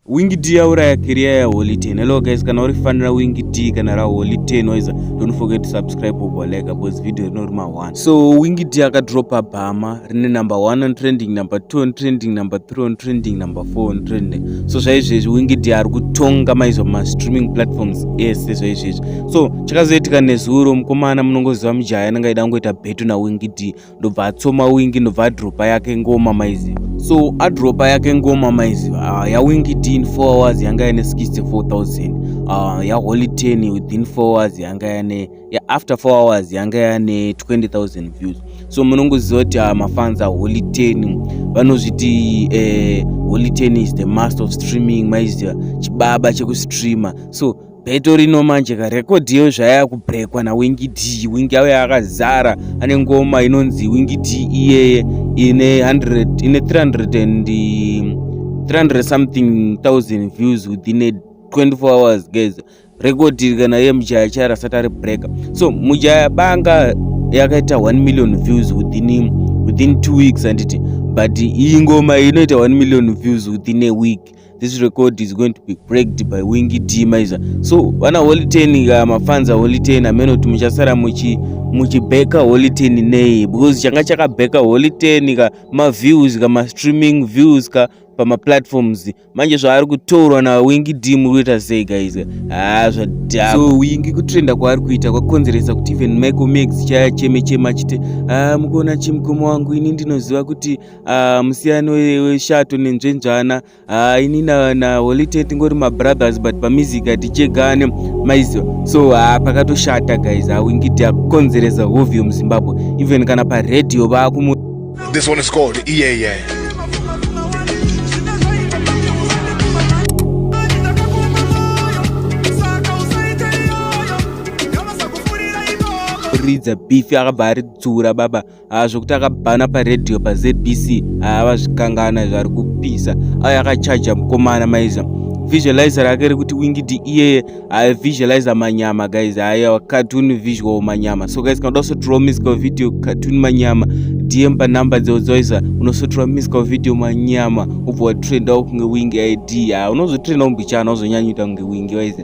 Wing D yauraya career ya Holy 10. Hello guys, kana uri fanira Wing D kana ra Holy 10 noiza, don't forget to subscribe or like because video rino rima 1. So Wing D akadropa bhama rine number 1 on trending, number 2 on trending, number 3 on trending, number 4 on trending. So zvaizvezvi Wing D ari kutonga maizo ma streaming platforms ese zvaizvezvi. So chakazoitika nezuro mukomana munongoziva mujaya anenge aida kungoita betu na Wing D. ndobva atsoma wingi ndobva adropa yake ngoma maiziva so adropa yake ngoma maiziva uh, ah, yawingi t in 4 hours yanga yane 64000 uh, ah, yaholy 10 within 4 hours yanga yane ya after 4 hours yanga yane 20000 views so munongoziva kuti uh, mafans aholy 10 vanozviti eh, holy 10 is the master of streaming maiziva chibaba chekustreamer so beto rino manje ka record iyo zvaya kubrekwa na wingi d wingi yavo yakazara ane ngoma inonzi wingi d iyeye ine 100 ine 300 and 300 something thousand views within a 24 hours guys record iri kana iye mujaya chaya rasati ari breaker so mujaya banga yakaita 1 million views within within 2 weeks anditi but iyi ngoma inoita 1 million views within a week this record is going to be breaked by wingi t maiza so vana holy ten ka mafanza holy ten amene kuti muchasara muchi muchibeka holy ten nei because changa chakabeka holy ten ka maviews ka mastreaming views ka pamaplatforms manje zvaari kutorwa nawingi d muri kuita sei guys haa zvadhaka so wingi kutrenda kwaari kuita kwakonzeresa kuti even michael max chaya cheme chema achiti haa mukuona chimukoma wangu ini ndinoziva kuti ah, musiyano weshato nenzvendzvana ah, ini naholite tingori mabrothers but pamusic hatichegane maiziva so ah, pakatoshata guys awingidi akukonzeresa hovi yomuzimbabwe even kana paradio vakumu this one is called iyeye yeah, yeah. kuridza beef akabva aridzura baba ah, zvekuti akabhana paradio pazbc ah, avazvikangana zvari kupisa ayo ah, akachaja mukomana maiza visualizer rake rekuti wingidi iyeye aivisualizer manyama guys aya cartoon visual manyama so guys kana udasotirwa musical video cartoon manyama dm panumber dzeudzoisa unosotirwa musical video manyama ubva watrenda kunge wing id unozotrenda umbichana uzonyanyuita kunge wing waize